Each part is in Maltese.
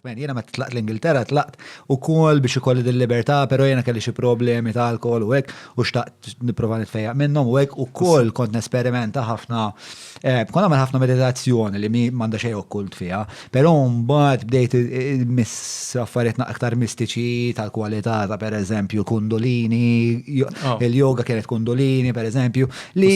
Jiena meta tlaqt l-Ingilterra tlaqt ukoll biex ikolli din libertà, però jiena kelli xi problemi ta' alkohol u hekk u xtaqt nipprova nitfejjaq minnhom u hekk ukoll kont nesperimenta ħafna eh, kont nagħmel ħafna meditazzjoni li m'għandha xejn okkult fiha, però mbagħad bdejt miss affarijiet aktar mistiċi tal-kwalità ta' pereżempju kundolini, oh. il-yoga kienet kundolini pereżempju, li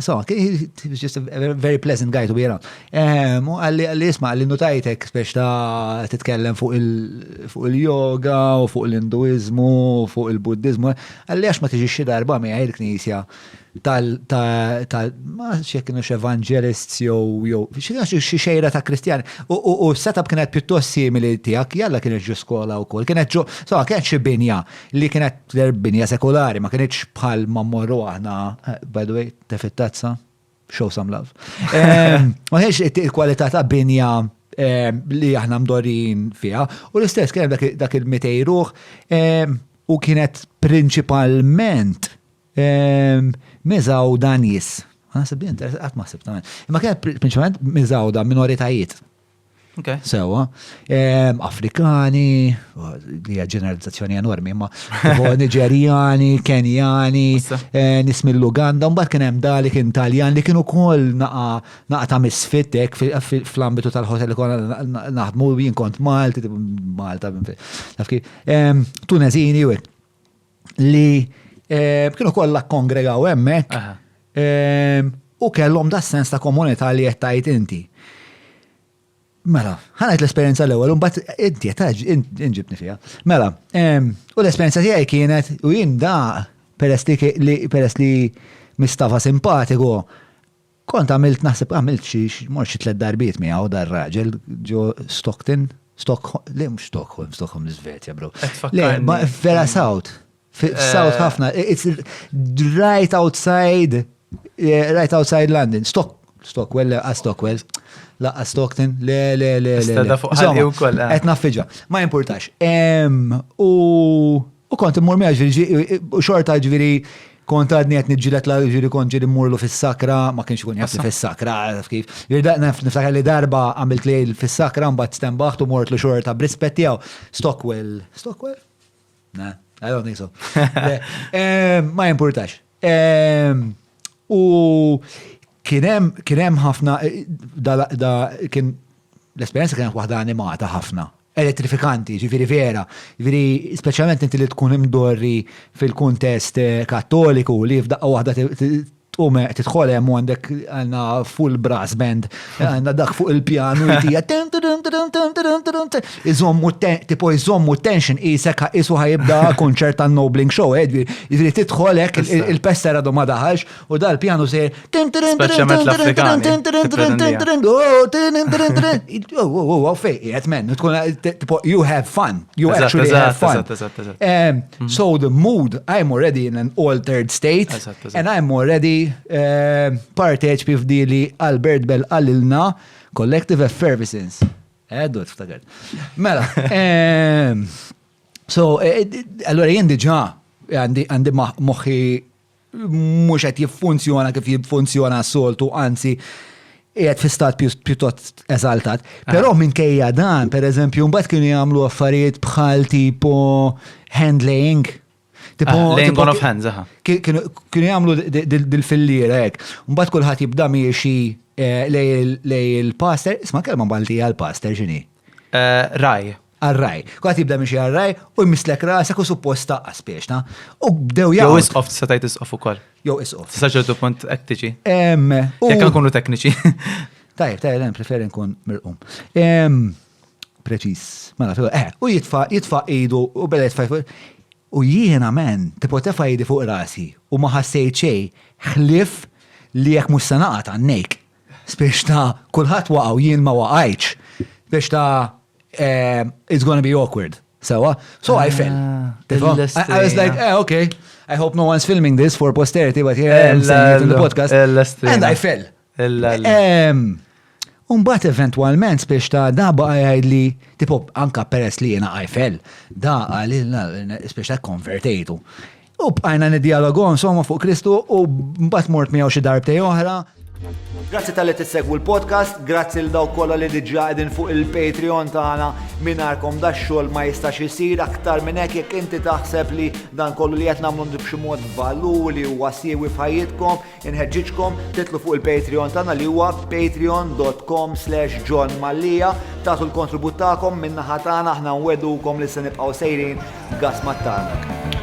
So, he was just a very pleasant guy to be around. Ehm, u għalli għalli isma għalli nutajtek biex ta' titkellem fuq il-yoga u fuq l-induizmu u fuq il-buddizmu. Għalli għax ma tiġi xi darba mi għajr knisja tal tal ma xie kienu x'evangelists jew jew xi xejra ta' kristjani. U s-setup kienet pjuttost simili tiegħek, jalla kienet ġu skola wkoll, kienet ġu, so kienet xi binja li kienet Tidher binja sekulari, ma kienitx bħal ma mmorru aħna, eh, by the way, tefit tazza, show some love. Ma kienx il-kwalità ta' binja li aħna mdorin fiha. U l-istess kien dak il-mitejruħ u kienet prinċipalment miżaw danjis. Għasib li għat maħsib ta' Imma kienet prinċipalment miżaw da' minoritajiet. Sewa, Afrikani, li hija ġeneralizzazzjoni enormi, ma Niġerjani, Kenjani, eh, nis mill-Uganda, mbagħad kien hemm dalik Intaljan li kienu kol naqa ta' misfitek fl-ambitu tal-hotel kol naħdmu jien kont Malti, Malta, nafki, Tunezini u li eh, kienu kollha kongregaw hemmhekk eh, u kellhom da sens ta' komunità li qed tgħid inti. Mela, ħanajt l-esperjenza l-ewwel, imbagħad inti qed inġibni fiha. Mela, eh, u l-esperjenza tiegħi kienet u jien da peress li peress li mistafa simpatiku, Kont għamilt naħseb għamilt xi mort xi tliet darbiet miegħu dar raġel ġo Stockton, Stockholm, le mhux Stockholm, Stockholm l-Iżvezja bro. Le, vera South. South eh. ħafna, it's right outside, eh, right outside London. Stock, Stockwell, le, Stockwell. Laqqa Stockton, le, le, le, le. Stada fuq ħalli u koll. Etna eh. fiġa, ma importax. U U kont immur miegħu ġifieri u xorta ġifieri kont għadni qed niġġieled la ġifieri kont ġieli mmurlu fis-sakra, ma kienx ikun jafni fis-sakra, għaraf kif. Niftakar li darba għamilt li fis-sakra mbagħad stembaħt u mortlu xorta b'rispett tiegħu. Stockwell, Stockwell? Le, I don't think so. Ma jimpurtax. U Kien hemm ħafna, da kien l-esperjenza kienet waħda animata ħafna, elettrifikanti, ġifiri vera, ġifiri speċjalment inti li tkun imdorri fil-kuntest eh, kattoliku li f'daqqa waħda tqum eh, tidħol hemm għandek għandna full brass band, għandna dak fuq il-pjanu jtija iżommu tipo iżommu tension isek isu ħajibda konċert tan Nobling Show, eh, ġifiri tidħol hekk il-pester għadu ma daħalx U dal pjanu se. Speċjalment l-Afrikani. Oh, fej, jgħet men, tkun tipo, you have fun. You actually have fun. So the mood, I'm already in an altered state. And I'm already parteċ pifdi li Albert Bell għallilna collective effervescence. Eh, dot, ftakar. Mela, so, allora jien diġa għandi moħi mhux qed jiffunzjona kif jiffunzjona s-soltu, anzi qiegħed fi stat pjuttost eżaltat. Ah. Però minkejja dan, pereżempju, mbagħad kienu jagħmlu affarijiet bħal tipo handling. Tipo, ah, laying on of hands, aha. Kienu jagħmlu dil-fillira hekk. Mbagħad kulħadd jibda miexi eh, lej il-pastor, isma' kelma Malti għal-pastor x'inhi? Eh, raj. Għar-ragħaj. Kulħadd jibda mixi għar-ragħaj u jmisslek rasek u suppost taqqa' spieċna. U bdew jaqgħu. Jew isqof tista' tgħid isqof ukoll. Jew isqof. Tista' ċertu punt qed tiġi. Jekk nkunu tekniċi. Tajjeb, tajjeb, hemm preferi nkun mirqum. Preċiż. Ma nafx. Eh, u jitfa' jitfa' idu u beda jitfa' U jiena men, tipo tefa' jidi fuq rasi u ma ħassejt xejn ħlief li jekk mhux se naqa' tannejk. Spiex ta' kulħadd waqgħu jien ma waqajċ. Spiex ta' eh, it's gonna be awkward. Sewa? So I fell. Ah, I was like, eh, okay. I hope no one's filming this for posterity, but here I am saying it in the podcast. And I fell. Umbat eventualment spiex ta' da baqa li, tipo, anka peress li jena I fell, da għalil spiex ta' konvertejtu. U bqajna nidjalogu insomma fuq Kristu u mbagħad mort miegħu xi darbtej oħra. Grazzi tal-li tissegwu l-podcast, grazzi l-daw kolla li diġa għedin fuq il-Patreon tagħna minarkom da xogħol ma jistax isir aktar minn hekk jekk inti taħseb li dan kollu li qed nagħmlu b'xi mod valur li huwa siewi f'ħajjitkom, Inħeġġiġkom titlu fuq il-Patreon tagħna li huwa patreon.com slash John Mallia tagħtu l-kontribut tagħkom min-naħa tagħna aħna nwedukom li se nibqgħu sejrin gas mat-tarnak.